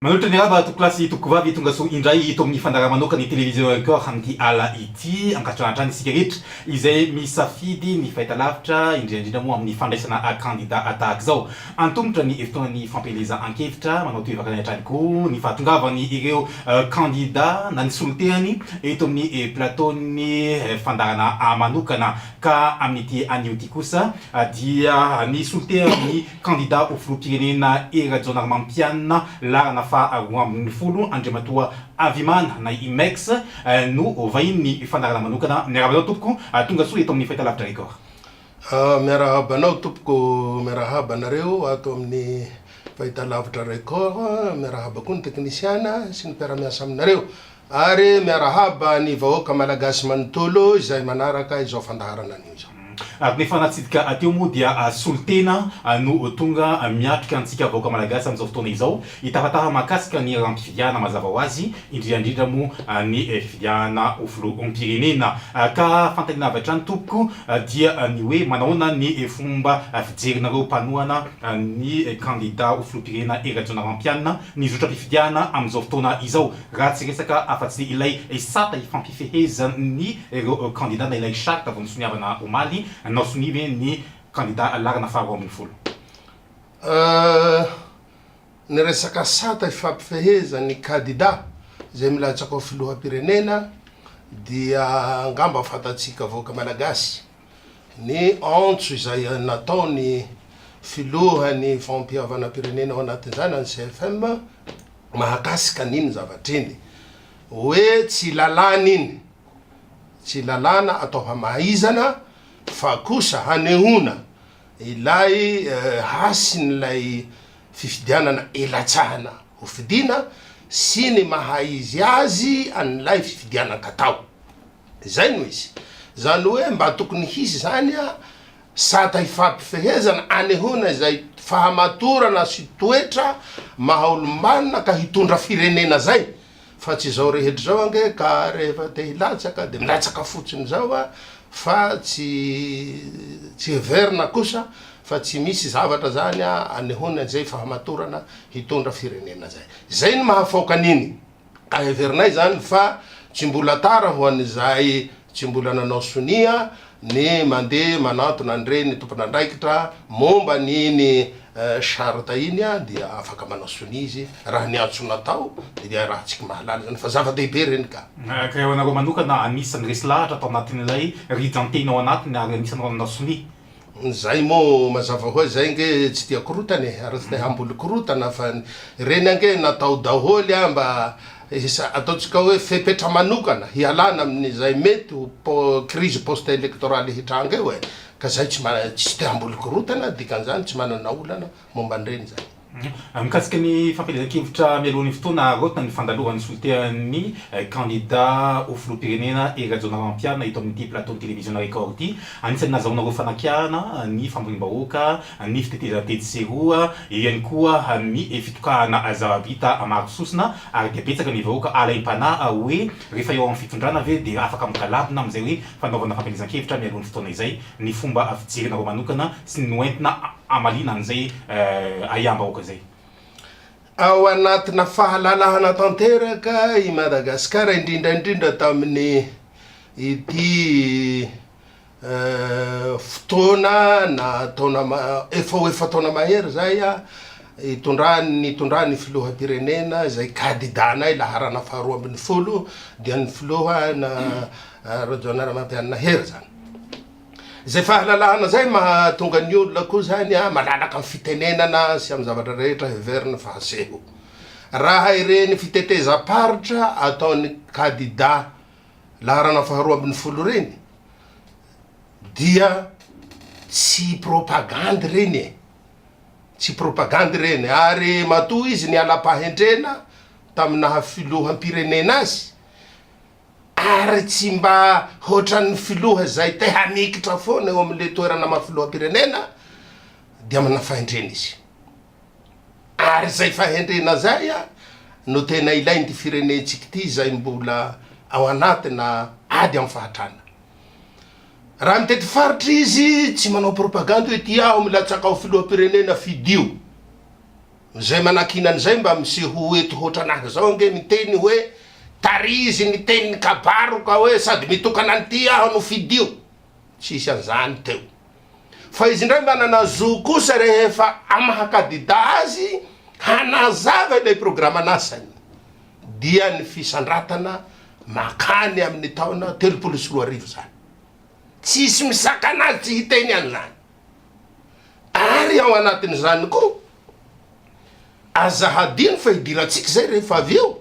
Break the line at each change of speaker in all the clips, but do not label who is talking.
Manolotra ny raba tompokolahy sy tompokovavy tongasoa indray eto amin'ny fandaharamanokan'ny Télévision Record amin'ity ala ity. Ankatrotrano hatrany isika rehetra izay misafidy ny fahitalavitra, indrindra indrindra moa amin'ny fandraisana kandida tahaka izao. Antomotra ny herintaonan'ny fampielezan-kevitra, manao tohivakana hatrany koa ny fahatongavan'ireo kandida na ny solontehany eto amin'ny plateau-n'ny fandaharanà manokana. Ka amin'ity anio ity kosa dia ny solontehan'ny. Kandida ho filoham-pirenena Hery Rajaonarimampianina laharana faha roa ambin'ny folo, Andriamatoa Avimana na i Mex no vahinin'ny fandaharana manokana. Miarahaba anao tompoko, tonga soa eto amin'ny Fahitalavitra Record.
Miarahaba anao tompoko, miarahaba anareo ato amin'ny Fahitalavitra Record, miarahaba koa ny teknisiana sy ny mpiara-miasa aminareo. Ary miarahaba ny vahoaka Malagasy manontolo izay manaraka izao fandaharana anio izao. Ary ny efa natsidika
hateo moa dia solontena no tonga miatrika antsika vahoaka Malagasy amin'izao fotoana izao, hitahatàha mahakasika ny rampifidihana mazava ho azy, indrindra indrindra moa ny fidihana ho filoham-pirenena. Ka fanontaniana avy hatrany tompoko dia ny hoe manahoana ny fomba fijerinareo mpanohana ny kandida ho filoham-pirenena Hery Rajaonarimampianina ny zotram-pifidihana amin'izao fotoana izao? Raha tsy resaka afa-tsy ilay sata hifampifehezan'ireo kandida na ilay charte vao nisoniavana omaly, nao sonia ve ny kandida laharana faharoa ambin'ny folo?
Ny resaka sata hifampifehezan'ny kandida izay milatsaka ho filoham-pirenena dia angamba fantatsika vahoaka malagasy. ny antso izay nataon'ny filohan'ny fampihavanan-pirenena ao anatin'izany an'ny CFM mahakasika an'iny zavatra iny hoe tsy lalàna iny, tsy lalàna atao hamaizana fa kosa hanehoana ilay hasin'ilay fifidianana ilatsahana hofidiana sy ny maha izy azy an'ilay fifidianan-katao. Izay no izy. Izany hoe mba tokony hisy izany sata ifampifehezana anehoana izay fahamatorana sy toetra maha olombanona ka hitondra firenena izay fa tsy izao rehetra izao ange ka rehefa te hilatsaka dia milatsaka fotsiny izao a fa tsy tsy heverina kosa fa tsy misy zavatra izany anehoana izay fahamatorana hitondra firenena izay. Izay no mahafaoka an'iny. Heverinay izany fa tsy mbola tara ho an'izay tsy mbola nanao sonia ny mandeha manantona an'ireny tompon'andraikitra momba an'iny charte iny dia afaka manao sonia izy raha ny antso natao dia raha tsy mahalala izany fa zava-dehibe ireny ka. Ka eo anareo manokana
anisan'ny resy lahatra tao anatin'ilay rijan-teny ao anatiny ary anisan'ireo nanao sonia? Zay
moa mazava hoa zay nge tsy tia korotana e, ary tsy te hamboly korotana fa ny reny ange natao daholo a mba hisa, ataontsika hoe fepetra manokana hialana amin'izay mety ho crise post electorale hitranga eo e, ka zay tsy tsy te hamboly korotana dikan'izany tsy manana olana momba an'ireny izany. Mikasika ny
fampielezan-kevitra mialoha ny fotoana harotina ny fandalovan'ny solontenan'ny kandida ho filoham-pirenena Hery Rajaonarimampianina eto amin'ity plateau-n'ny televiziona Record ity, anisan'ny nazahoanareo fanakiahana ny famoriam-bahoaka, ny fitetezana tetsy sy eroa, eo ihany koa ny fitokahana zava-bita maro sosona ary dia betsaka ny vahoaka alaim-panahy hoe rehefa eo amin'ny fitondrana ve dia afaka migalambona amin'izay hoe fanaovana fampielezan-kevitra mialoha ny fotoana izay ny fomba fijerinareo manokana sy ny noentina hamaliana an'izay ahiam-bahoaka izay. Ao
anatina fahalalahana tanteraka i Madagasikara, indrindra indrindra tamin'ny ity fotoana na taona efa ho efa taona mahery izay hitondran'ny nitondran'ny filoham-pirenena izay kadidanay laharana faharoa ambin'ny folo dia ny filoha Rajoelina Ramatoa Hery izany. Izay fahalalahana izay mahatonga ny olona koa izany malalaka amin'ny fitenenana sy amin'ny zavatra rehetra heveriny fa aseho. Raha ireny fitetezam-paritra ataon'ny kandidà laharana faharoa ambin'ny folo ireny dia tsy propagandy ireny e! Tsy propagandy ireny ary matoa izy niala-pahendrena tamin'ny naha filoham-pirenena azy Ary tsy mba hoatran'ny filoha zay te hamikitra foana eo amin'le toerana maha filoham-pirenena dia manana fahendrena izy. Ary zay fahendrena zay no tena ilain'ity firenentsika ity izay mbola ao anatina ady amin'ny fahatrana. Raha mitety faritra izy tsy manao propagande hoe ity aho milatsaka ho filoham-pirenena fidio. Izay manakiana an'izay mba misehoa eto hoatran'ahy izao ange miteny hoe tarizy ny tenin'ny kabaro ka hoe sady mitokana an'ity aho no fidio. Tsisy an'izany teo. Fa izy indray manana zo kosa rehefa amaha kadida azy hanazava ilay programan'asany dia ny fisandratana makany amin'ny taona telopolo sy roa arivo izany. Tsisy misakana azy tsy hiteny an'izany. Ary ao anatin'izany koa, aza hadino fa hidirantsika izay rehefa avy eo,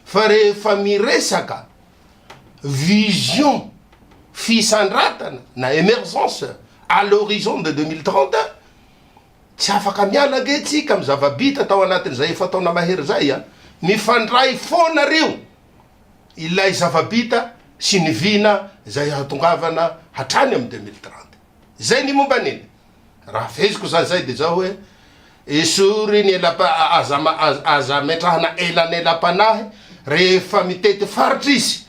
fa rehefa miresaka vision fisandratana na emergence à l'horizon de deux mille trente, tsy afaka miala ange isika amin'ny zava-bita tao anatin'izay efa-taona mahery izay. Mifandray foana ry io, ilay zava-bita sy ny vina izay hahatongavana hatrany amin'ny deux mille trente. Zay ny momba ny. Raha feheziko zany zay de zao hoe, esory ny ela aza aza ametrahana elanelam-panahy rehefa mitety faritra izy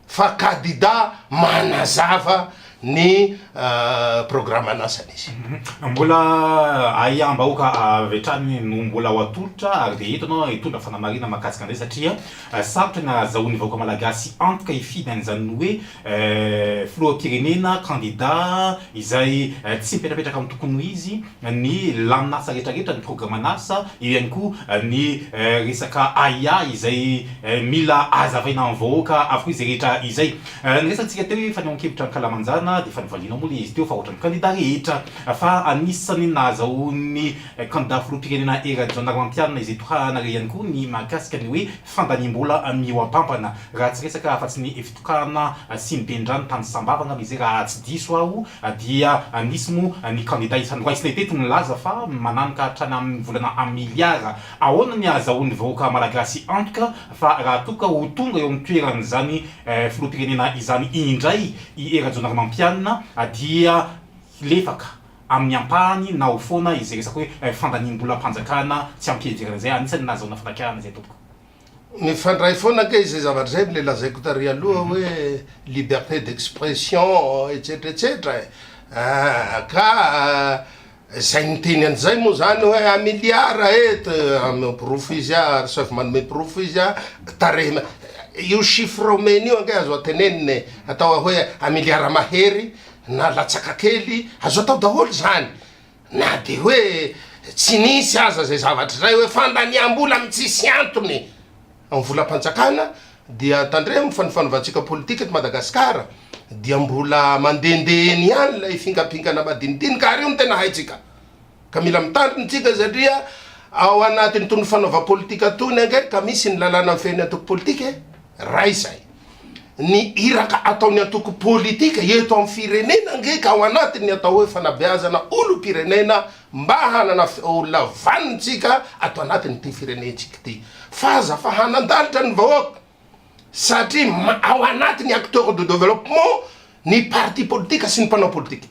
fa kadida manazava ny programan'asany izy. Mbola
ahiam-bahoaka avy hatrany no mbola ho atolotra ary dia eto ianao hitondra fanamarihana mahakasika an'izay satria Sarotra ny ahazahoan'ny vahoaka malagasy antoka hifidy an'izany hoe filoham-pirenena, candidat, izay tsy mipetrapetraka amin'ny tokony ho izy, ny lamin'asa rehetrarehetra, ny programan'asa, eo ihany koa ny resaka ahiahy izay mila hazavaina amin'ny vahoaka avokoa izay rehetra izay. Niresahantsika teo hoe fanehoan-kevitra ankalamanjana dia efa nivalianao moa ilay izy teo fa ohatran'ny candidat rehetra fa anisan'ny nahazahoan'ny Kandidà filoham-pirenena Hery Rajaonarimampianina izay tohahana re ihany koa ny mahakasika ny hoe fandaniam-bola mihoa-pampana. Raha tsy resaka afa-tsy ny fitokahana sy ny ben'ny-drano tany Sambava angamba izay raha tsy diso aho dia nisy moa ny kandidà isany raisina teto nilaza fa mananoka hatrany amin'ny volana miliara. Ahoana ny ahazahoan'ny vahoaka malagasy antoka fa raha toa ka ho tonga eo amin'ny toeran'izany filoham-pirenena izany indray i Hery Rajaonarimampianina dia hilefaka Amin'ny ampahany, naho foana izay resaka hoe fandaniam-bolam-panjakana tsy am-piheverana izay, anisan'ny nahazahoana fandakarana izay tompoko. Mifandray
foana ange izay zavatra izay amin'ilay lazaiko tary aloha hoe liberté d'expression etsetra etsetra e! ka izay niteny an'izay moa izany hoe un milliard et manome porofo izy an, Arcep manome porofo izy an, tarehy, io chiffre omeny io ange azo antenenina e! atao hoe un milliard mahery, na latsaka kely, azo atao daholo izany, na dia hoe tsy nisy aza izay zavatra izay hoe fandaniam-bola amin'ny tsisy antony amin'ny volam-panjakana dia tandremo fa ny fanovantsika politika eto Madagasikara dia mbola mandehandeha eny ihany ilay fingampingana madinidinika ary io no tena haintsika. Ka mila mitandrina isika satria ao anatin'itony fanaova politika itony ange ka misy ny lalàna mifehy ny antoko politika e! Iray izay. Ny iraka ataon'ny antoko politika eto amin'ny firenena ange ka ao anatin'ny atao hoe fanabeazana olom-pirenena mba hanana feonla vanintsika ato anatin'ity firenentsika ity. F'aza fa hanan-dalitra ny vahoaka satria ao anatin'ny acteurs de développement ny parti politika sy ny mpanao politika.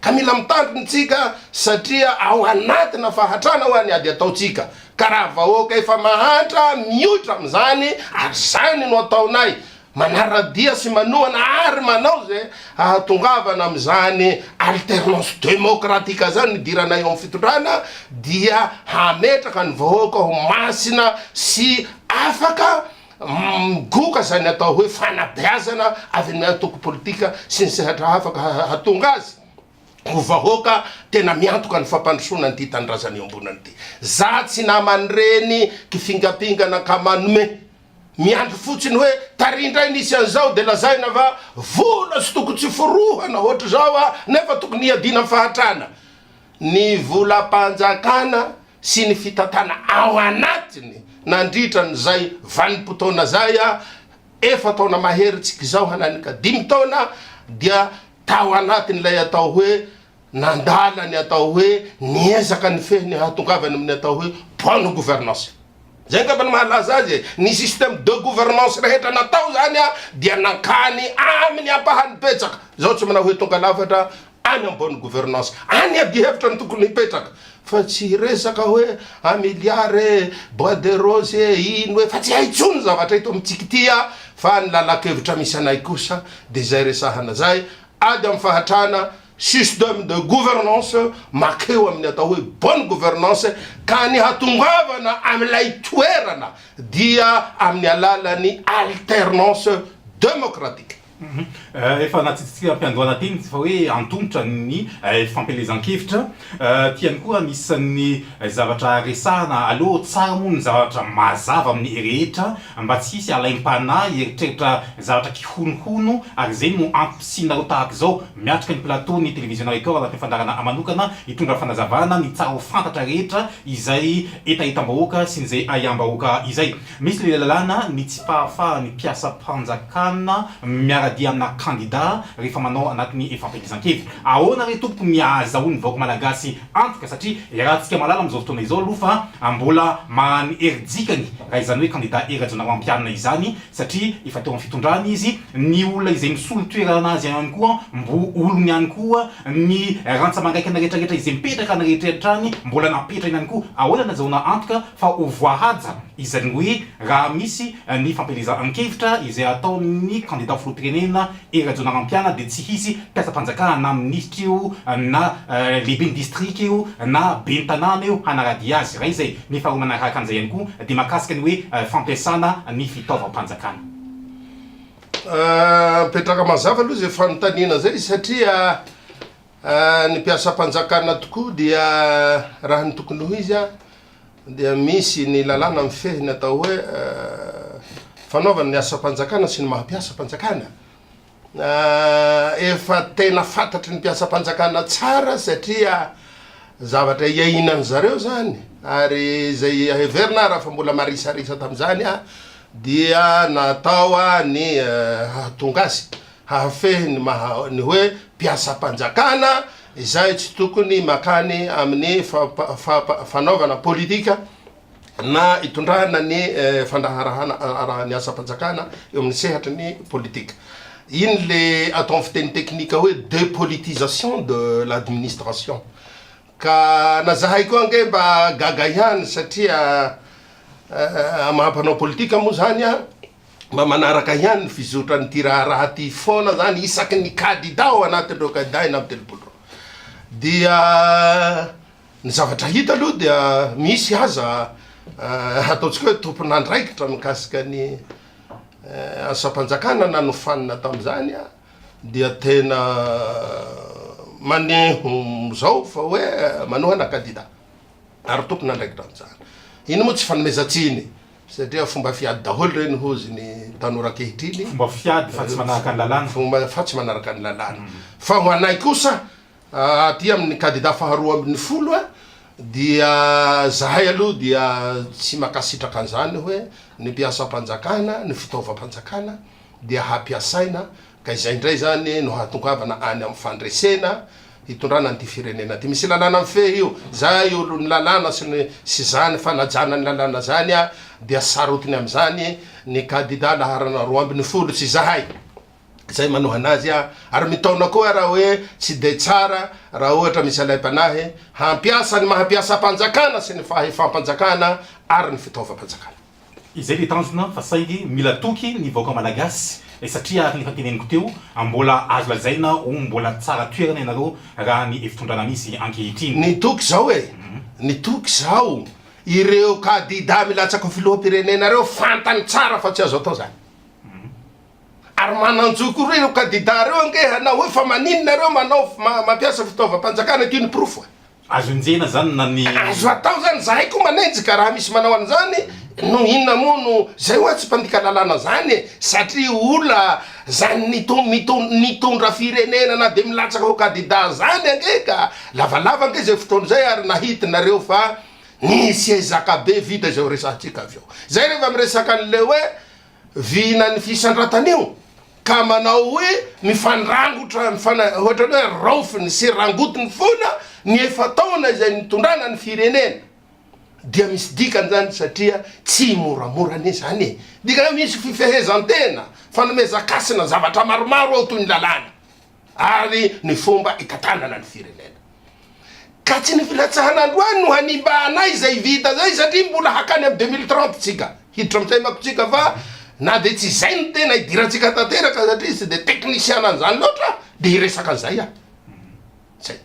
ka mila mitandrina isika satria ao anatina fahatrana hoa ny ady ataontsika ka raha vahoaka efa mahantra mioitra amin'izany ary izany no ataonay manaradia sy manohana ary manao izay hahatongavana amin'izany alternance democratique izany ny hidiranay eo amin'ny fitondrana dia hametraka ny vahoaka ho masina sy afaka Migoka izany atao hoe fanabeazana avy amin'ny antoko politika sy ny sehatra hafa ka hahatonga azy ho vahoaka tena miantoka ny fampandrosoana an'ity tanindrazana iombonana ity. Za tsy naman'ireny kifingampingana ka manome. Miandry fotsiny hoe tary indray nisy an'izao dia lazaina fa vola tsy toko tsy forohana ohatr'izao a! nefa tokony hiadiana amin'ny fahatrana. ny volam-panjakana sy ny fitantana ao anatiny nandritra an'izay vanim-potoana izay, efa-taona mahery tsika izao hananika dimy taona, dia tao anatin'ilay atao hoe nandala ny atao hoe niezaka nifehy ny hahatongavany amin'ny atao hoe bonne gouvernance. Izay angamba no mahalaza azy e! Ny système de gouvernance rehetra natao izany dia nankany amin'ny ampahany betsaka, izaho tsy manao hoe tonga lafatra, any ambony gouvernance any adihevitra no tokony hipetraka fa tsy hiresaka hoe un milliard e, bois de rose e, ino e, fa tsy hay intsony ny zavatra eto amintsika ity a! fa ny lalan-kevitra misy anay kosa dia izay resahana izay ady amin'ny fahatrana système de gouvernance makeo amin'ny atao hoe bonne gouvernance ka ny hatongavana amin'ilay toerana dia amin'ny alalan'ny alternance démocratique.
Efa natsidintsika am-piandohana teny fa hoe antomotra ny fampielezan-kevitra. Ity ihany koa anisan'ny zavatra resahana. Aleo tsara moa ny zavatra mazava amin'ny rehetra mba tsy hisy alaim-panahy hieritreritra zavatra kihonohono ary izay no antom-pisianareo tahaka izao miatrika ny plateau-n'ny Télévision Record anatin'ny fandaharana manokana hitondra fanazavana ny tsara ho fantatra rehetra izay hetahetam-bahoaka sy ny izay ahiam-bahoaka izay. Misy ny lalàna ny tsy fahafahan'ny mpiasam-panjakana miara-dia amina kandida rehefa manao anatin'ny fampielezan-kevitra. Ahoana re tompoko ny ahazahoan'ny vahoaka malagasy antoka satria iarahantsika mahalala amin'izao fotoana izao aloha fa mbola maany hery dikany raha izany hoe kandida Hery Rajaonarimampianina izany satria efa teo amin'ny fitondrana izy, ny olona izay misolo toerana azy ihany koa mbo olony ihany koa, ny rantsa-mangaikana rehetrarehetra izay mipetraka any rehetra any mbola napetrany ihany koa. Ahoana ny azahoana antoka fa ho voahaja izany hoe raha misy ny fampielezan-kevitra izay ataon'ny kandida filoham-pirenena Hery Rajaonarimampianina dia tsy hisy mpiasam-panjakana na minisitra eo na lehiben'ny distrika eo na ben'ny tanàna eo hanaradia azy, iray izay. Ny faharoa manaraka an'izay ihany koa dia mahakasika ny hoe fampiasana ny fitaovam-panjakana.
Apetraka mazava aloha izay fanontaniana izay satria. Ny mpiasam-panjakana tokoa dia raha ny tokony ho izy dia misy ny lalàna mifehy ny atao hoe fanaovana ny asam-panjakana sy ny maha mpiasam-panjakana. Efa tena fantatry ny mpiasam-panjakana tsara satria zavatra iainan'ny zareo izany ary izay heverina raha fa mbola marisarisa tamin'izany dia natao ny hahatonga azy Hahafehy ny maha ny hoe mpiasam-panjakana izay tsy tokony mankany amin'ny fanaovana politika na itondrana ny fandraharahana ny asam-panjakana eo amin'ny sehatry ny politika. Iny le atao amin'ny fiteny teknika hoe depolitisation de l'administration. Ka na zahay koa ange mba gaga ihany satria maha mpanao politika moa zany an. mba manaraka ihany ny fizotran'ity raharaha ity foana zany isaky ny kandida ao anatin'ireo kandida enina amby telopolo ireo. Dia ny zavatra hita aloha dia misy aza eh, ataontsika hoe tompon'andraikitra mikasika ny eh, asam-panjakana nanofanina tamin'izany ah, dia tena maneho izao fa hoe manohana kandida ary tompon'andraikitra amin'izany. Iny moa tsy fanomezan-tsiny. Satria fomba fiady daholo ireny hozy ny tanora ankehitriny. Fomba fiady fa tsy
manaraka ny lalàna. Fomba fa tsy manaraka ny
lalàna. Fa ho anay kosa aty amin'ny kandida faharoa ambin'ny folo dia zahay aloha dia tsy mankasitraka an'izany hoe ny mpiasam-panjakana, ny fitaovam-panjakana dia hampiasaina Ka izay indray izany no hahatongavana any amin'ny fandresena hitondrana an'ity firenena ity. Misy lalàna mifehy io. Izay olon'ny lalàna sy ny sy izany fanajana ny lalàna izany dia sarotiny amin'izany ny kandida laharana roa ambin'ny folo sy izahay izay manohana azy ary mitaona koa raha hoe tsy dia tsara raha ohatra misy alaim-panahy hampiasa ny maha mpiasam-panjakana sy ny fahefam-panjakana ary ny fitaovam-panjakana. Izay dia
tanjona fa saingy mila toky ny vahoaka malagasy eh, satria araka ny efa teneniko teo, mbola azo lazaina ho mbola tsara toerana ianareo raha ny hevi-pitondrana misy ankehitriny. Ny toky zao eh,
ny toky zao, ireo kadida milatsaka ho filoham-pirenena ireo fantany tsara fa tsy azo atao zany. Ary manan-jo koa ireo kadida ireo ange hanao hoe fa maninona ireo manao mampiasa fitaovam-panjakana, ity ny porofo eh. Azo enjehina
zany na ny. Azo atao zany, zahay
koa manenjika raha misy manao an'izany, noho inona moa no zay hoa tsy mpandika lalàna zany e, satria ola zany nitondra nitondra nitondra firenena na de milatsaka ho kadida zany ange ka, lavalava ange zay fotoana zay ary nahity nareo fa nisy ezaka be vita izay ho resahantsika avy eo zay rehefa miresaka an'le hoe Vina ny fisandratana io ka manao hoe mifandrangotra mifana ohatran'ny hoe raofiny sy rangotiny foana ny efa-taona izay nitondrana ny firenena dia misy dikany izany satria tsy moramora anie izany e! Dikany hoe misy fifehezan-tena, fanomezan-kasina zavatra maromaro ao toy ny lalàna. ary ny fomba itantanana ny firenena. Ka tsy ny filatsahana androany no hanimba anay izay vita izay satria mbola hakany amin'ny deux mille trente tsika hiditra amin'ny saimako tsika fa na dia tsy izay no tena hidirantsika tanteraka satria tsy dia teknisiana an'izany loatra dia hiresaka an'izay aho. Zay.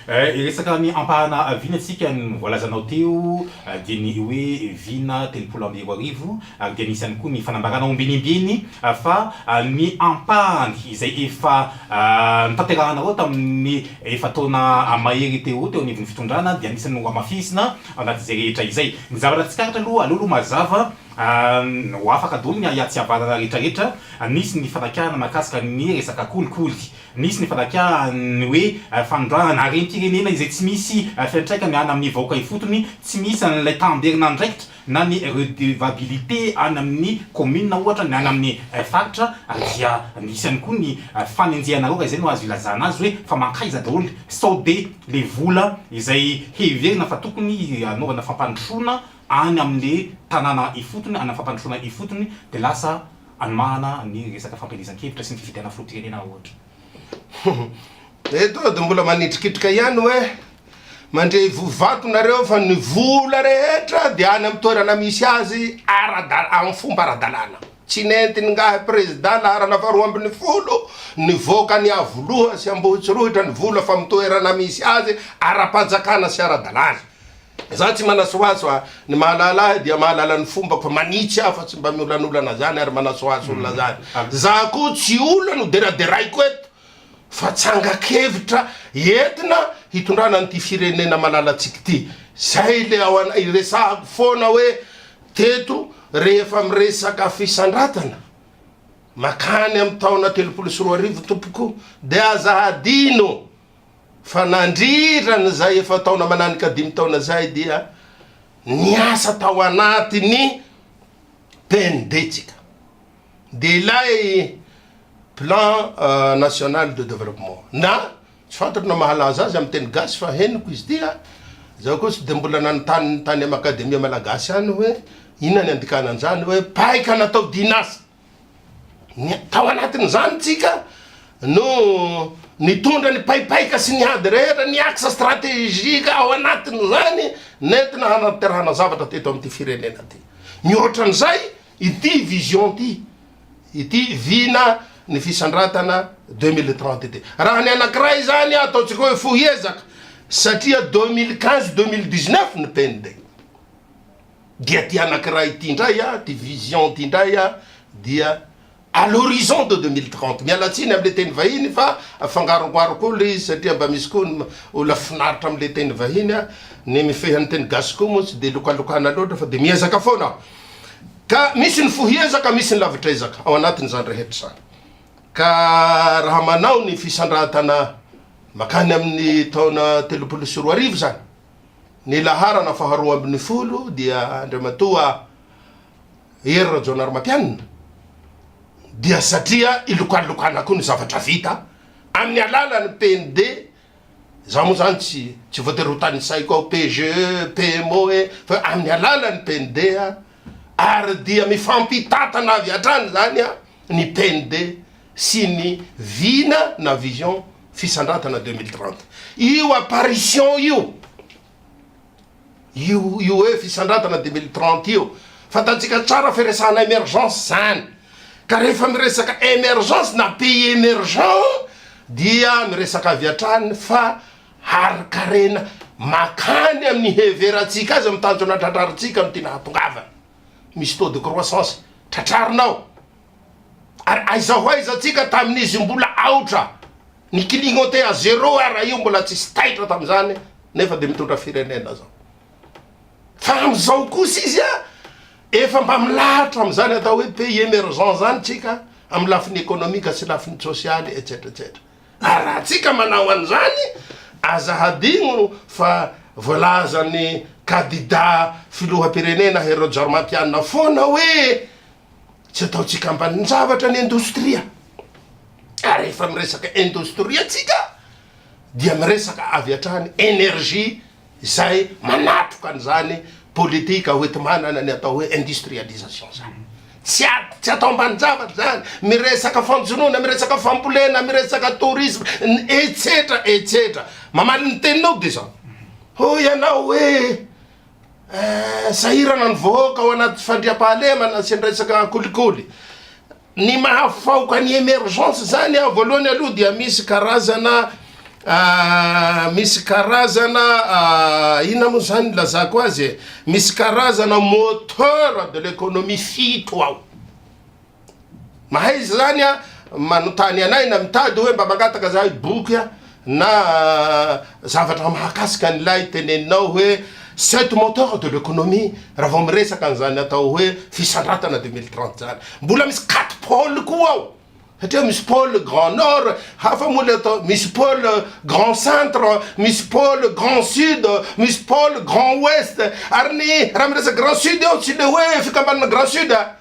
Eh,
hiresaka ny ampahana vina isika, ny voalazanao teo dia ny hoe vina telopolo amby roa arivo ary dia nisy ihany koa ny fanambarana ombinimbiny fa ny ampahany izay efa notanterahanareo tamin'ny efa-taona mahery teo teo anivon'ny fitondrana dia anisan'ny nohamafisina ao anatin'izay rehetra izay. Ny zavatra tsikaritra aloha, aleo aloha mazava ho afaka daholo ny ahiahy tsy havanana rehetrarehetra, nisy ny fanakianana mahakasika ny resaka kolikoly, Nisy ny fandakian'ny hoe fanondranana harem-pirenena izay tsy misy fiantraikany any amin'ny vahoaka ifotony, tsy misy an'ilay tamberin'andraikitra na ny redevabilité any amin'ny kaominina ohatra, ny any amin'ny faritra, ary dia misy ihany koa ny fanenjehanareo, raha izay no azo ilazana azy, hoe fa mankaiza daholo sao dia ilay vola izay heverina fa tokony hanaovana fampandrosoana any amin'ilay tanàna ifotony, any amin'ny fampandrosoana ifotony dia lasa Anomahana ny resaka fampielezan-kevitra sy ny fifidianana filoham-pirenena ohatra. Eto
de mbola manitrikitrika ihany hoe mandre ivoho vato nareo fa ny vola rehetra de any am toerana misy azy ara-dalana am fomba ara-dalana tsy nentin'ingahy président laharana faharoa ambin'ny folo nivoaka any Iavoloha sy Ambohitsirohitra ny vola fa am toerana misy azy ara-panjakana sy ara-dalana Za tsy manasohaso a! Ny mahalala ahy dia mahalala ny fombako manitsy aho fa tsy mba miolanolana zany ary manasohaso olona zany. Za koa tsy olona noderaderaiko eto fa tsangan-kevitra entina hitondrana an'ity firenena malalatsika ity. Zay le ao anay, iresahako foana hoe teto rehefa miresaka fisandratana makany amin'ny taona telopolo sy roa arivo tompoko dia aza hadino Fa nandritra izay efa-taona mananika dimy taona izay dia niasa tao anatin'ny PNB tsika. Dia ilay Plan National de Développement na tsy fantatro na mahalaza azy amin'ny teny gasy fa henoko izy ity a! Izaho koa tsy dia mbola nanontany tany amin'ny Akademia Malagasy any hoe inona ny andikana an'izany hoe paikana atao dihin'asa? Ny tao anatin'izany tsika no nitondra ny paipaika sy ny ady rehetra, ny axe stratégique ao anatin'izany nentina hanaterana zavatra teto amin'ity firenena ty. Mihoatra an'izay, ity vision ty, ity vina ny fisandratana 2030 ity. Raha ny anankiray izany ataontsika hoe fohy ezaka satria 2015 2019 ny PND. dia ty anankiray ty indray a, ty vision ty indray a, dia à l'horizon de 2030, miala tsiny amle teny vahiny fa afangarongoaro koa le izy satria mba misy koa ny olona finaritra amle teny vahiny a, ny mifehy any teny gasy koa moa tsy dia lokalokana loatra fa dia miezaka foana aho, ka misy ny fohiezaka misy ny lavitrezaka ao anatin'izany rehetra izany, ka raha manao ny fisandrantana makany amin'ny taona telopolo sy roa arivo izany, Ny laharana faharoa ambin'ny folo dia Andriamatoa Hery Rajaonarimampianina dia satria ilokalokana koa ny zavatra vita amin'ny alalan'ny PND, za moa zany tsy tsy voatery ho tanisaiko ao PGE, PMOE fa amin'ny alalan'ny PND. ary dia mifampitantana avy hatrany izany ny PND sy ny vina na vision fisandrantana deux mille trente. Io apparition io, io io hoe fisandrantana deux mille trente io, fantantsika tsara fa iresahana emergence izany, ka rehefa miresaka emergence na pays emergent dia miresaka avy hatrany fa harin-karena makany amin'ny heverantsika azy amin'ny tanjona tratrarintsika no tiana hahatongavana. Misy taux de croissance tratrarina ao. Ary aiza ho aiza antsika tamin'izy mbola aotra, ny clignoter à zéro ara io mbola tsisy taitra tamin'izany nefa dia mitondra firenena izao. Fa amin'izao kosa izy a, efa mba milahatra amin'izany atao hoe pays emergent izany tsika amin'ny lafiny économique sy lafiny sosialy etsetra etsetra. Ary raha antsika manao an'izany, aza hadino fa voalazan'ny kadidà filoham-pirenena Hery Rajaorimampianina foana hoe tsy ataontsika ambanin-javatra ny indostria. Ary rehefa miresaka indostria tsika dia miresaka avy hatrany énergie izay manatroka an'izany politika hoenti-manana ny atao hoe industrialisation izany. Tsy ady, tsy atao ambanin-javatra izany, miresaka fanjonoana, miresaka fambolena, miresaka tourisme, etsetra, etsetra. Mamaly ny teninao dia izao. Hoy ianao hoe eh, sahirana ny vahoaka ao anaty fandriampahalemana sy ny resaka kolikoly. Ny mahafaoka ny emergence zany aho voalohany aloha dia misy karazana misy karazana inona moa zany nilazako azy e, misy karazana moteur de l'economie fito ao, mahaiza zany a manontany anay na mitady hoe mba mangataka zahay boky a, Na zavatra mahakasika an'ilay teneninao hoe c'est du moteur de l'economie raha vao miresaka an'izany atao hoe fisandratana deux mille trente izany. Mbola misy quatre pôles koa ao satria misy pôle grand nord, hafa moa ilay atao, misy pôle grand centre, misy pôle grand sud, misy pôle grand ouest. Ary ny raha miresaka grand sud eo tsy ilay hoe fikambanana grand sud a!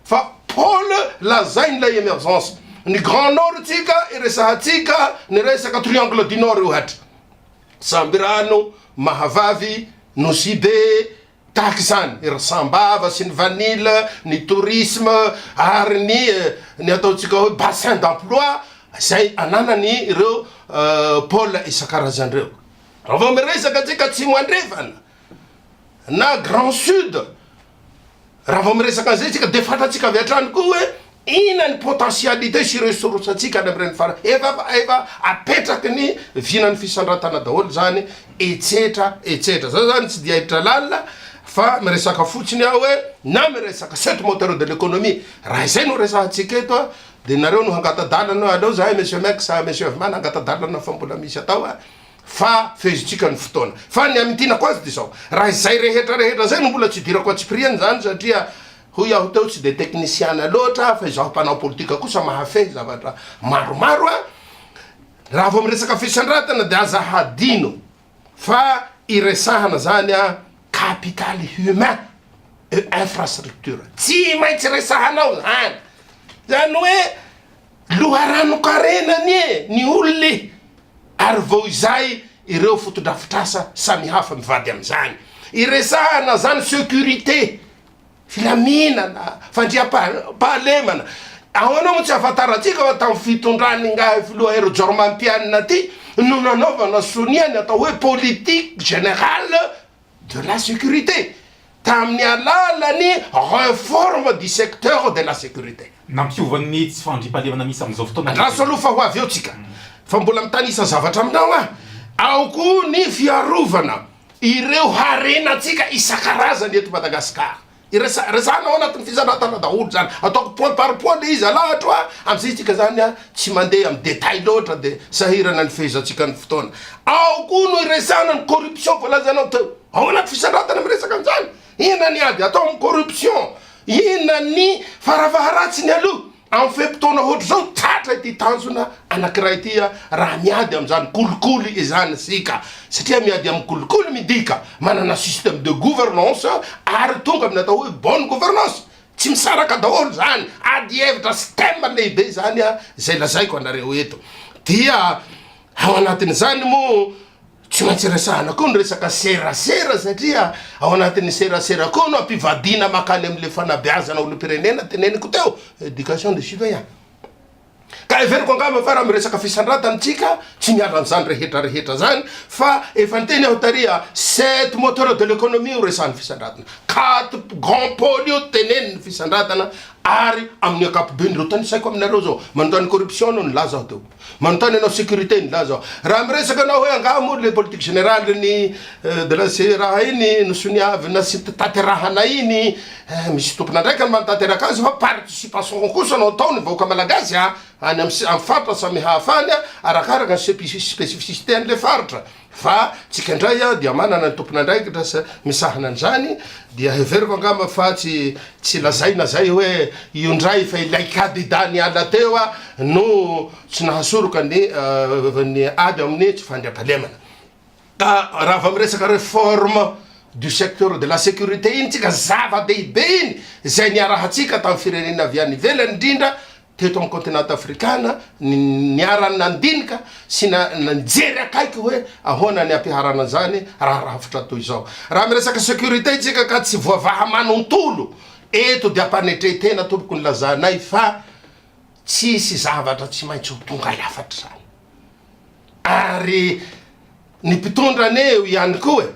Fa Paul lazainy ilay emergence ny grand nord tsika iresahantsika ny resaka triangle du nord ohatra sambirano mahavavy nosy be tahaka izany ry sambava sy ny vanille ny tourisme ary ny ny ataontsika hoe bassin d'emploi izay ananany ireo pole isan-karazany ireo raha vao miresaka antsika atsimo andrefana na grand sud raha vao miresaka an'izay isika dia fantatsika avy hatrany koa hoe inona ny potentialité sy ressource antsika any amin'ireny fara efa efa apetraky ny vinan'ny fisandratana daholo izany etsetra etsetra zay zany tsy dia hiditra lalina fa miresaka fotsiny aho hoe na miresaka sept moteur de l'économie raha izay no resahantsika eto a dia nareo no hangata-dalana aleo zahay monsieur Max monsieur Vimana hangata-dalana fa mbola misy atao a fa fehezintsika ny fotoana fa ny hamintinako azy dia izao, raha izay rehetra rehetra izay no mbola tsy hidirako antsipiriany izany satria hoy aho teo tsy dia teknisiana loatra aho fa izaho mpanao politika kosa mahafehy zavatra maromaro a, raha vao miresaka fisandratana dia aza hadino fa iresahana izany a capital humain et infrastructure tsy maintsy resahanao izany, izany hoe. Loharanon-karena anie ny olona e! Ary vao izay ireo fotodrafitrasa samihafa mivady amin'izany. Iresahana izany securité, filaminana, fandriampahalemana. Ahoana moa tsy ahafantarantsika fa tamin'ny fitondran'ingahy filoha Hery Jaoromampianina ity no nanaovana sonia ny atao hoe politique générale de la sécurité tamin'ny alalan'ny réforme du secteur de la sécurité. Nampiova ny tsy
fandriampahalemana misy amin'izao fotoana. Andraso aloha fa ho avy eo
tsika. Fa mbola mitanisa zavatra aminao aho. Ao koa ny fiarovana ireo harenantsika isan-karazany eto Madagasikara. Iresa resahanao anatin'ny fizarantana daholo zany, ataoko point par point le izy alahatro a, amzay tsika zany a tsy mandeha amin'ny detail loatra de sahirana ny fehezantsika ny fotoana. Ao koa no iresahana ny corruption voalazanao teo, ao anaty fisarantana miresaka an'zany, inona ny ady atao amin'ny corruption, inona ny farafaharatsiny aloha, Amin'ny fe-potoana hoatr'izao, tratra ity tanjona anankiray ity raha miady amin'izany kolikoly izany isika, satria miady amin'ny kolikoly midika manana système de gouvernance ary tonga amin'ny atao hoe bonne gouvernance. Tsy misaraka daholo izany, ady hevitra sy thème lehibe izany izay lazaiko anareo eto dia. Ao anatin'izany moa tsy maintsy resahana koa ny resaka serasera satria ao anatin'ny serasera koa no ampivadiana makany amin'ilay fanabeazana olom-pirenena teneniko teo, éducation des citoyens. Ka heveriko angamba fa raha miresaka fisandratana tsika tsy miala an'izany rehetra rehetra zany fa efa niteny aho tariha sept moteurs de l'économie io resahan'ny fisandratana, quatre grands pôles io tenenin'ny fisandratana ary amin'ny ankapobeny ireo tanisaiko aminareo zao, manontany corruption no nilaza aho teo. Manontany anao sécurité nilaza aho. Raha miresaka anao hoe angaha moa le politique générale ny de la ze raha iny no soniavina sy taterahanay iny eh, misy tompon'andraikany manatanteraka azy fa participation kosa no atao ny vahoaka malagasy a, any am faritra samihafa any a, arakaraka ny spécificité an'le faritra. Fa tsika ndray dia manana ny tompon'andraikitra sy misahana an'izany dia heveriko angamba fa tsy tsy lazaina zay hoe io ndray fa ilay kadidah niala teo no tsy nahasoroka ny ny ady amin'ny tsy fandriampahalemana. Ka raha vao miresaka reforme du secteur de la securite iny tsika zava-dehibe iny zay niarahantsika tamin'ny firenena avy any ivelany ndrindra teto amin'ny kontinanta afrikana ny niara-nandinika sy nijery akaiky hoe ahoana ny hampiharana an'izany raha rafitra toy izao. Raha miresaka sécurité isika ka tsy voavaha manontolo eto dia ampanetren-tena tompoko ny lazanay fa tsisy zavatra tsy maintsy ho tonga lafatra izany ary ny mpitondra anie eo ihany koa e!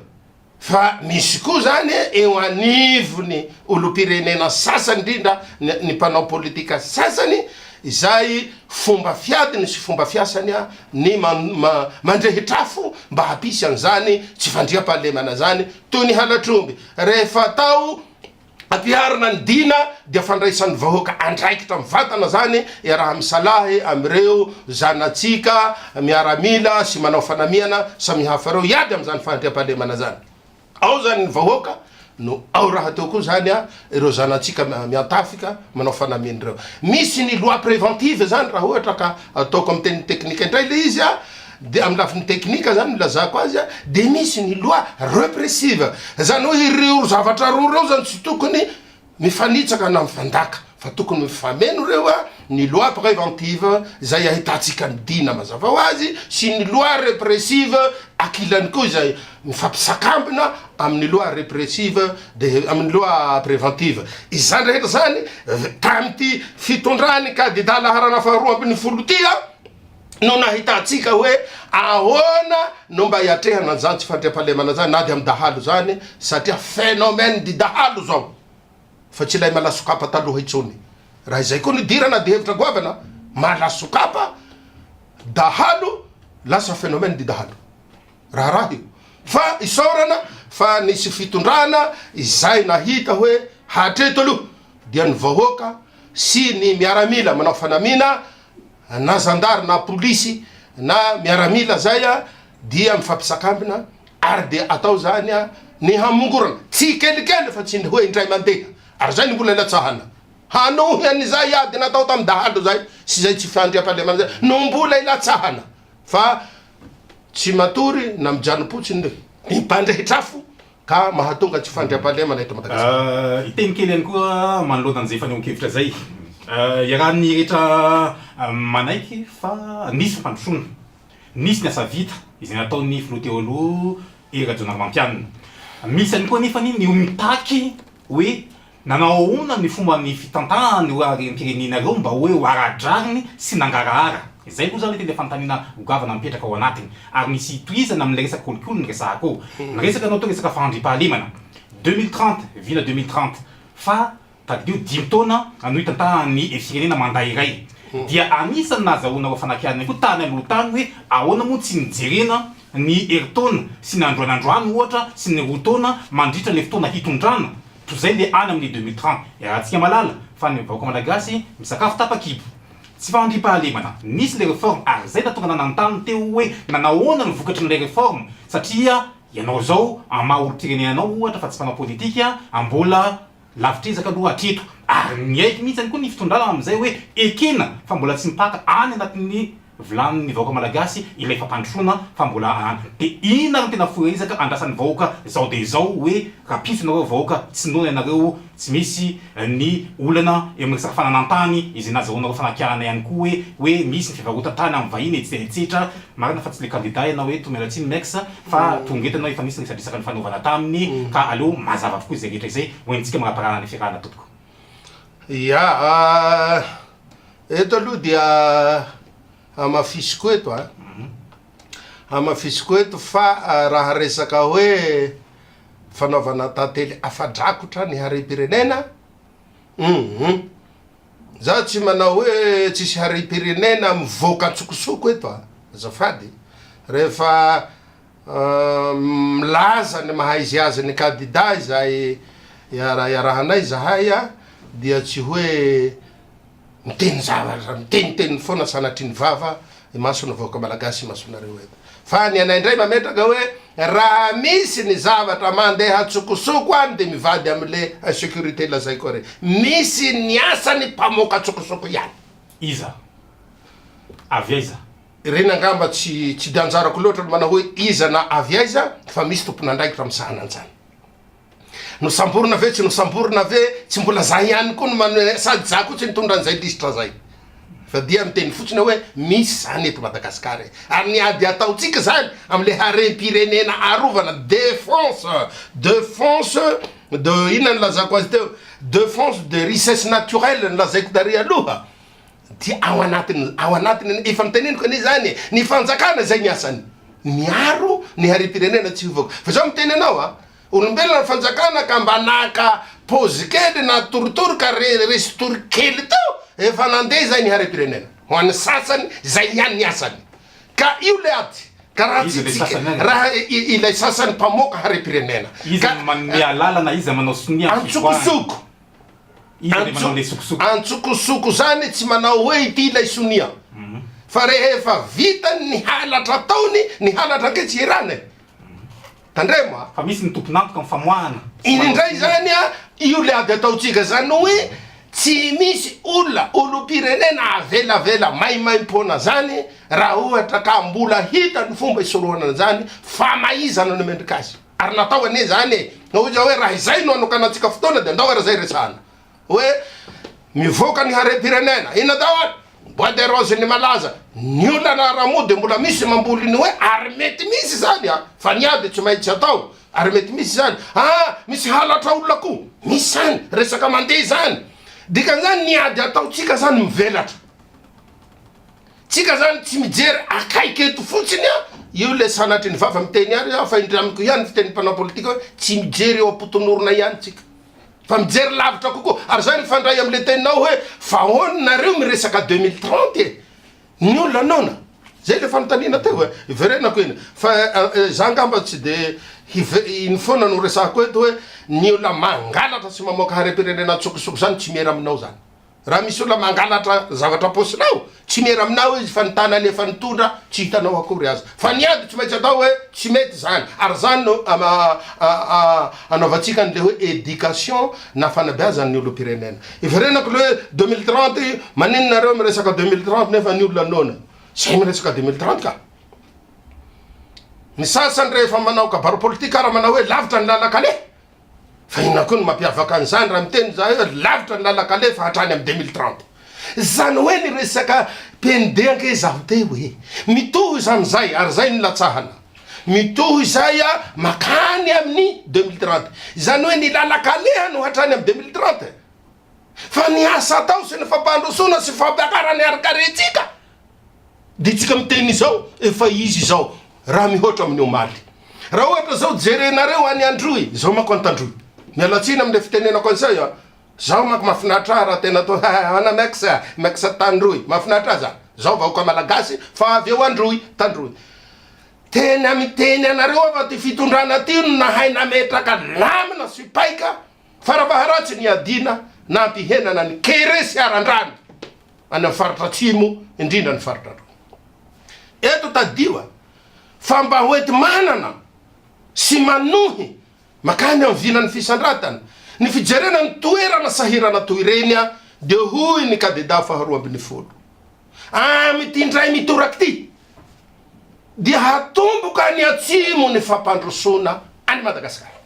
Fa misy koa izany eo anivon'ny olom-pirenena sasany, indrindra ny mpanao politika sasany, izay fomba fiadiny sy fomba fiasany ny mandrehitra afo mba hampisy an'izany tsy fandriampahalemana izany, toy ny halatr'omby rehefa atao Ampiharina ny Dina dia fandraisan'ny vahoaka andraikitra mivantana izany iaraha-misalahy amin'ireo zanatsika miaramila sy manao fanamiana samihafa ireo hiady amin'izany fandriampahalemana izany. Ao izany ny vahoaka no ao rahateo koa izany ireo zanatsika miantafika manao fanamiana ireo. Misy ny loi préventive izany raha ohatra ka ataoko amin'ny teny teknika indray ilay izy Dia amin'ny lafiny teknika izany no ilazako azy dia misy ny loi repressive, izany hoe ireo zavatra roa ireo izany tsy tokony mifanitsaka na mifandaka fa tokony mifameno ireo, ny loi préventive izay ahitantsika ny dina mazava ho azy sy ny loi repressive ankilany koa izay mifampisakambina amin'ny loi repressive dia amin'ny loi préventive. Izany rehetra izany tamin'ity fitondran'ny kandida laharana faharoa ambin'ny folo ity an! no nahitantsika hoe ahoana no mba hiatrehana an'izany tsy fandriampahalemana izany na dia amin'ny dahalo izany satria phénomène du dahalo izao fa tsy ilay malasokapa taloha intsony. Raha izay koa no idirana dia hevitra goavana, malasokapa, dahalo, lasa phénomène du dahalo. Raharaha io. Fa isaorana fa nisy fitondrana izay nahita hoe hatreto aloha dia ny vahoaka sy ny miaramila manao fanamiana na zandary na polisy na miaramila zay a dia mifampisakambina ary dia atao zany a ny hamongorana tsikelikely fa tsy ny hoe indray mandeha ary zay ny mbola ilatsahana hanohy an'izay ady natao tamin'ny dahalo zay sy zay tsy fandriampahalemana zay no mbola ilatsahana fa tsy matory na mijanopotsin'ny ny mpandrehitr'afo ka mahatonga tsy fandriampahalemana eto Madagasikara. Hiteny kely ihany koa
Manoloana an'izay fanehoan-kevitra izay, iarahan'ny rehetra manaiky fa nisy ny fandrosoana, nisy ny asa vita izay nataon'ny Filoha teo aloha Hery Rajaonarimampianina. Misy ihany koa anefa ny mitaky hoe Nanao ahoana ny fomba ny fitantahan ireo harem pirenena ireo mba hoe ho ara drariny sy nangarahara? Izay aloha izany tena fanontaniana ho goavana mipetraka ao anatiny. Ary misy hitohizana amin' ilay resaka kolikoly ny resahako eo. Niresaka ianao teo resaka fahandriam-pahalemana. Deux mille trente, vina deux mille trente, fa tadidio dimy taona no hitantahan ny firenena mandat iray. Dia anisan' ny nahazahoanareo fanakianana ihany koa tany aloha tany hoe ahoana moa tsy nijerena ny herintaona sy ny androany androany ohatra sy ny roa taona mandritra ilay fotoana hitondrana Toy izay le any amin'ny deux mille trente iarahantsika malala fa ny vahoaka malagasy misakafo tapa-kibo. Tsy fahandriam-pahalemana. Nisy le reforme ary zay natongana nanontany teo hoe nanahoana no vokatry ny le reforme satria ianao zao an maha olom-pirenena anao ohatra fa tsy mpanao politika an mbola lavitr'ezaka aloha hatreto ary miaiky mihitsy ihany koa ny fitondrana amin'izay hoe ekena fa mbola tsy mipaka any anatin'ny Vilany ny vahoaka malagasy ilay fampandrosoana fa mbola an de inn ary no tena fohy ezaka andrasan'ny vahoaka zao de zao hoe rapiso nareo vahoaka tsy noana ianareo tsy misy ny olana eo amin'ny resaka fananantany izay nazahoanareo fanakiahana ihany koa hoe hoe misy ny fivarotan-tany amin'ny vahiny etsy de etsetra marina fa tsy le kandida ianao eto miala tsiny mex fa tonga eto ianao efa misy ny resadresaka nifanaovana taminy ka aleo mazava avokoa izay rehetra izay ho entintsika maraparana ny fiarahana tompoko. Ia,
eto aloha dia hamafisiko eto an, hamafisiko eto fa raha resaka hoe fanaovana tantely afa-drakotra ny harem-pirenena, humm, izaho tsy manao hoe tsisy harem-pirenena mivoaka an-tsokosoko eto an, azafady, rehefa. Milaza ny maha izy azy ny kandida izay iarahiarahanay izahay dia tsy hoe miteny zavatra miteniteny foana sanatria ny vava imason'ny vahoaka malagasy imasonareo eto fa ny anay indray mametraka hoe raha misy ny zavatra mandeha tsokosoko any dia mivady amle insecurite lazaiko ary misy ny asany mpamoaka tsokosoko ihany. Iza?
Avy aiza? Ireny angamba
tsy tsy dia anjarako loatra ny manao hoe iza na avy aiza fa misy tompon'andraikitra misahana an'izany. Nosamborina ve tsy nosamborina ve tsy mbola za ihany koa no mano sady za koa tsy nitondra an'izay lisitra zay fa dia miteny fotsiny hoe misy zany eto Madagasikara e! ary ny ady ataontsika zany amle harem-pirenena arovana defense defense de inona no lazako azy teo defense de richesse naturelle no lazaiko tary aloha Dia ao anatin, ao anatin, efa noteneniko anie izany e, ny fanjakana izay ny asany, miaro ny harem-pirenena tsy hivoaka. Fa izao miteny anao a, olombelona ny fanjakana ka mba naka pause kely na torotoro ka re, resy tory kely teo, efa nandeha izay ny harem-pirenena. Ho an'ny sasany, izay ihany ny asany. Ka io le ady. Ka raha tsy tsika, raha i, ilay sasany mpamoaka harem-pirenena. Iza no manome
alalana, iza manao sonia amin'ny fivoahana. Antsokosoko.
Antsokosoko zany tsy manao hoe ity ilay sonia fa rehefa vitany ny halatra ataony ny halatra ange tsy hirana e tandremo a fa misy ny
tompon'antoka amin'ny famoahana iny indray zany
a io le ady ataontsika zany hoe tsy misy olona olom-pirenena avelavela maimaimpoana zany raha ohatra ka mbola hita ny fomba hisorohana an'izany famaizana ny mendrika azy Ary natao anie izany e! Hoy izy hoe raha izay no hanokanantsika fotoana dia andao ary izay resahana hoe mivoaka ny harem-pirenena, inona daholo? bois de rose ny malaza, ny olana ara moa dia mbola misy mamboly ny hoe ary mety misy izany an! fa ny ahy dia tsy maintsy atao ary mety misy izany, aa misy halatra olona koa, misy izany, resaka mandeha izany, dikan'izany ny ady ataontsika izany mivelatra. Tsika zany tsy mijery akaiky eto fotsiny a, io le sanatry ny vava miteny ary aho fa indreo amiko ihany ny fiteny mpanao politika hoe tsy mijery eo am-potonorona ihany tsika fa mijery lavitra kokoa ary zay mifandray amle teninao hoe fa ahoana nareo miresaka deux mille trente e, ny olona noana zay le fanontaniana teo e, iverenako iny fa za angamba tsy de hive iny foana no resahako eto hoe ny olona mangalatra sy mamoaka harem-pirenena an-tsokosoko zany tsy miera aminao zany. Raha misy olona mangalatra zavatra am-paosinao, tsy miera aminao izy fa ny tanany efa nitondra tsy hitanao akory aza. Fa ny ady tsy maintsy atao hoe tsy mety izany. Ary izany no anaovantsika an'ilay hoe éducation na fanabeazan'ny olom-pirenena. Hiverenako ilay hoe deux mille trente io, maninona nareo miresaka deux mille trente nefa ny olona noana. Izay miresaka deux mille trente ka. Ny sasany rehefa manao kabary politika ary manao hoe lavitra ny lalan-kaleha. Fa inona koa no mampiavaka an'izany raha miteny izahay hoe lavitra ny lalan-kalefa hatrany amin'ny deux mille trente? Izany hoe ny resaka PND ange izaho miteny hoe mitohy izy amin'izay ary izay no latsahana. Mitohy izay mankany amin'ny deux mille trente. Izany hoe ny lalan-kaleha no hatrany amin'ny deux mille trente. Fa ny asa atao sy ny fampandrosoana sy fampiakarana ny harin-karentsika Dia tsika miteny izao efa izy izao raha mihoatra amin'ny omaly. Raha ohatra izao jerenareo any Androy, izao manko Antandroy. Miala tsiny amin'ilay fitenenako an'izay an! Zaho manko mahafinaritra ahy raha tena atao ha ana mex a, mex a Tandroy. Mahafinaritra ahy zany. Zaho vahoaka Malagasy fa avy eo Androy, Tandroy. Tena miteny anareo aho fa ty fitondrana ty no nahay nametraka lamina sy paika. Fara-baharatsy ny iadiana na ampihenana ny kere sy haran-drano any amin'ny faritra atsimo indrindra ny faritra androy. Eto tadidio a! fa mba hoenti-manana sy manohy makany amin'ny vilan'ny fisandratana ny fijerena ny toerana sahirana toy ireny a! dia hoy ny kadeda faharoa ambin'ny folo, amin'ity indray mitoraka ity dia hatomboka any atsimo ny fampandrosoana an'i Madagasikara.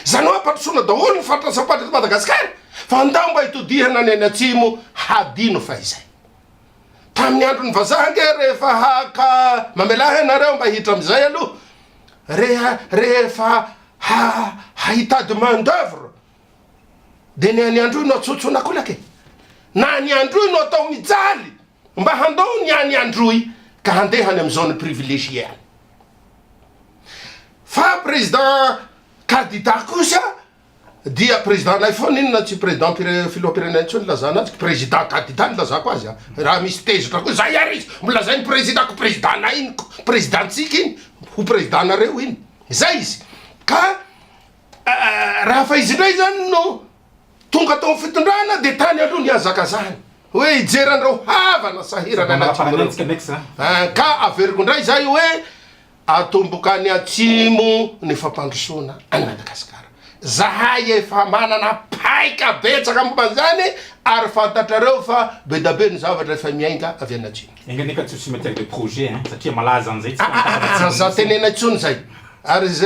Izany hoe ampandrosoana daholo ny faritra sasam-patra eto Madagasikara fa ndao mba hitodihana ny any atsimo hadino fahizay. Tamin'ny andron'ny vazaha ange rehefa haka mamelà ianareo mba hiditra amin'izay aloha reha rehefa ha hahitady main d'oeuvre dia ny an'i Androy no atsontsona kolaka e! Na an'i Androy no atao mijaly Mba handao ny any Androy ka handeha any amin'ny zone privilégiée any. Fa président kandida kosa dia président anay foana inona tsy président filoham-pirenena intsony ilazana azy, président kandida no ilazako azy a! Raha misy tezitra koa zay ary izy mbo lazainy président ko président anay iny ko président antsika iny ho président anareo iny! Zay izy ka raha fa izy indray zany no Tonga tao amin'ny fitondrana dia tany aloha nihazakazahany hoe hijery an'ireo havana sahirana any atsimo ireo. Ka averiko indray izay hoe atomboka any atsimo ny fampandrosoana an'i Madagasikara. Izahay efa manana paika betsaka momba an'izany ary fantatrareo fa be dia be ny zavatra efa miainga avy any atsimo. Enga anie ka tsy ho cimetière des
projets hein satria malaza an'izay tsy fahitako anatin'ny nosy. Aza tenena
intsony izay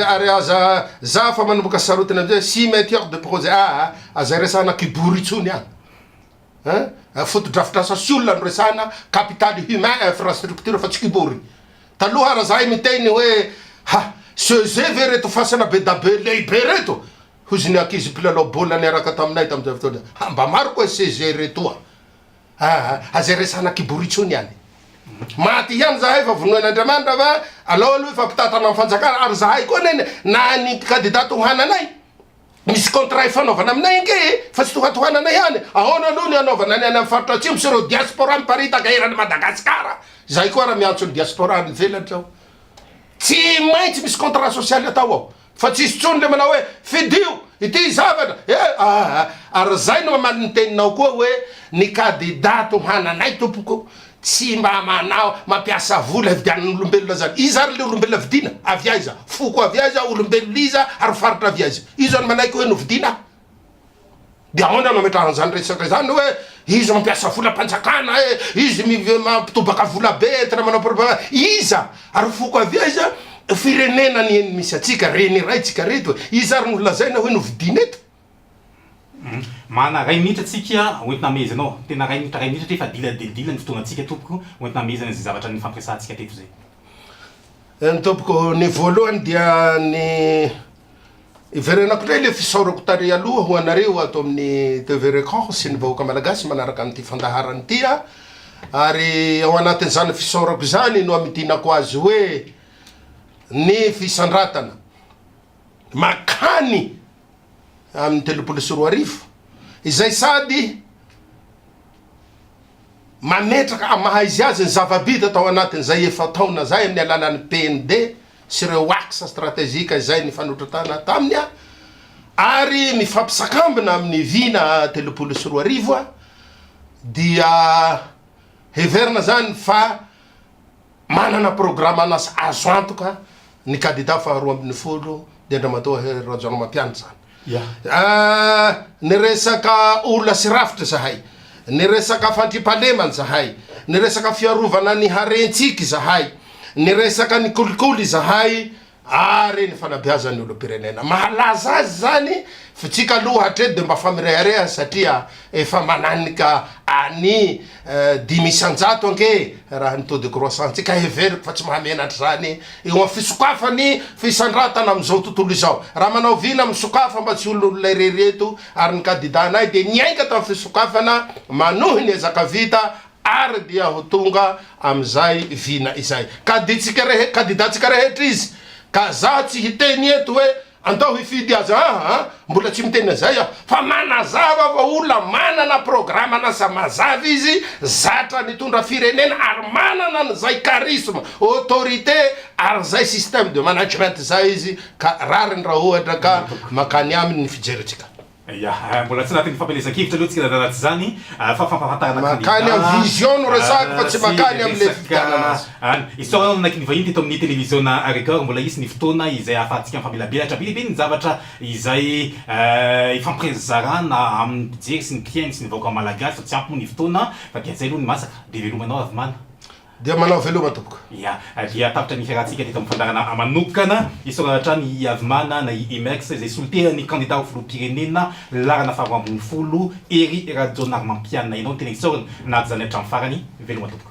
ary aza za fa manomboka sarotiny amizay hoe cimetière de projet aa aza iresahana kibory intsony an! An! Fotodrafitrasa sy olona no resahana, capital humain, infrastructure fa tsy kibory! Taloha ary zahay miteny hoe ha! CEG ve reto fasana bedabe lehibe reto? hozy ny ankizy mpilalao baolina niaraka taminay tamizay fotoana izay, ha! mba maro koa i CEG retoa! Aa aza resahana kibory intsony any. Maty ihany zahay fa vonoin' Andriamanitra va alao aloha hifampitantana am fanjakana ary zahay koa anie na ny kandida tohananay misy contrat ifanaovana aminay ange e fa tsy tohatohanana ihany ahoana aloha ny anaovana ny any am faritra atsimo sy ireo diaspora miparitaka eran' Madagasikara zahay koa ary miantso ny diaspora any ivelany zao tsy maintsy misy contrat sosialy atao ao Fa tsy hisy tsony le manao hoe fidio ity zavatra e aa ary zay no aman ny teninao koa hoe ny kadida tohananay tompoko tsy mba manao mampiasa vola hividianana olombelona zany iza ary le olombelona vidiana avy aiza foko avy aiza olombelona iza ary faritra avy aiza iza no manaiky hoe novidiana Dia ahoana no ametrahana izany resaka izany hoe izy mampiasa volam-panjakana e, izy mampitobaka vola be entina manao propagande. Iza ary foko avy aiza? Firenena anie no misy antsika, reny iray tsika reto e. Iza ary no lazaina hoe novidiana eto?
Manana iray minitra tsika hoentina amehezana ao. Tena iray minitra iray minitra hatreto fa dila dia dila ny fotoanantsika tompoko hoentina amehezana izay zavatra nifampiresahantsika hatreto izay. Eny tompoko,
ny voalohany dia ny Hiverenako indray ilay fisaorako tary aloha ho anareo ato amin'ny TV Record sy ny vahoaka Malagasy manaraka an'ity fandaharana ity a! ary ao anatin'izany fisaorako izany no hamidinako azy hoe ny fisandratana makany amin'ny telopolo sy roa arivo izay sady mametraka maha izy azy ny zava-bita tao anatin'izay efa-taona izay amin'ny alalan'ny PND sy ireo axe strategique izay nifanotratana taminy ary mifampsakambina amin'ny vina telopolo sy roa arivo dia heverina izany fa manana programanasa azo antoka ny kandida faharoa ambin'ny folo dia Andriamatoa Hery Rajaonarimampianina izany. Niresaka olona sy rafitra izahay, niresaka fandriampahalemana izahay, niresaka fiarovana ny harentsika izahay, niresaka ny kolikoly izahay ary ny fanabeazan'ny olom-pirenena. Mahalaza azy izany, fitsika aloha hatreto dia mba fa mirehareha satria Efa mananika any dimy isan-jato ange raha ny taux de croissance-ntsika, ka heveriko fa tsy mahamenatra izany eo amin'ny fisokafan'ny fisandratana amin'izao tontolo izao. Raha manao vina misokafa mba tsy olon'olona irery eto ary ny kadidanay dia niainga tamin'ny fisokafana manohy ny ezaka vita ary dia ho tonga amin'izay vina izay. Kadidantsika rehetra izy ka za tsy hiteny eto hoe Andao hifidy aza aa, mbola tsy miteny an'izay aho, fa manazava fa olona manana programan'asa mazava izy, zatra nitondra firenena ary manana an'izay charisme, autorité ary izay système de management izay izy ka rariny raha ohatra ka mankany aminy ny fijerintsika. Ia, mbola
tsy anatin'ny fampielezan-kevitra aloha tsika raha tsy izany fa fampahafantarana kandida sy resaka. Mankany amin'ny vision
no resahako fa tsy mankany amin'ilay fifidianana azy. Isaorana ny
nanakin'ny vahiny teto amin'ny televiziona Record mbola hisy ny fotoana izay ahafahantsika mifamelabelatra be dia be ny zavatra izay ifampirezarana amin'ny mpijery sy ny mpihaino sy ny vahoaka malagasy fa tsy ampy moa ny fotoana fa dia izay aloha ny masaka dia velomanao Ravimana. Dia manao veloma
tompoko. Ia, dia tapitra ny
fiarahantsika teto amin'ny fandaharana manokana. Isaorana hatrany i Avimana na i Imex izay solontenan'ny kandida ho filoham-pirenena laharana faharoa ambin'ny folo, Hery Rajaonarimampianina. Ianao no tena isaorana nahady izany hatramin'ny farany. Veloma tompoko.